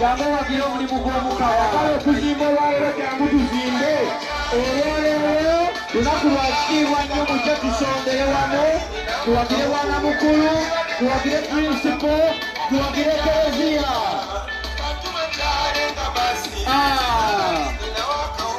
jangu wagira omulimu gw'omuka ayagala okuzimba olwalero jangu tuzimbe olwaleero lunaku lwa kitiibwa nnyo mujja tusondere wamu tuwagire bwana mukulu tuwagire prinsipo tuwagire kereziya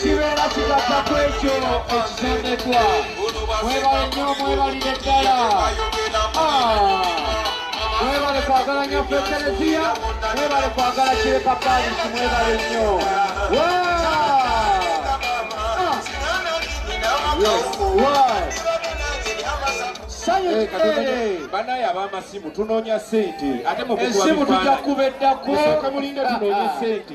kibeera kigatta ku ekyo ekisondekwa mwebale nnyo mwebalire ddala mwebale kwagala nnyo fe kereziya mwebale kwagala kireka palisi mwebale nnyo banaye abamasimu tunonya sente ate muesimu tujakubeddako mulinde tunonya sente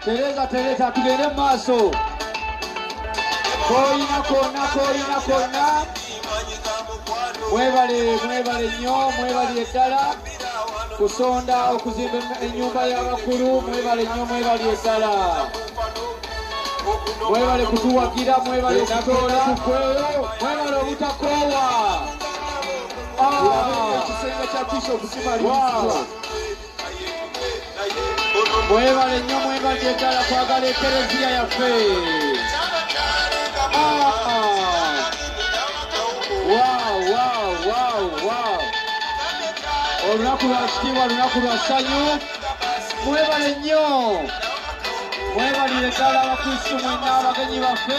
Tereza tereza tugende mu maaso. Koyina konna koyina konna. Mwebale mwebale nnyo mwebale eddala kusonda okuzimba ennyumba y'abakulu mwebale nnyo mwebale eddala. Mwebale kutuwagira mwebale okutoola mwebale obutakoowa. Ah. Ekisenge kya Bishop Kimali. Wow. mwebale nnyo mwebale eddala kwagala ekereziya yaffe olunaku lwa kitiibwa lunaku lwa ssanyu mwebale nnyo mwebalire ddala abakristu mwenna abagenyi baffe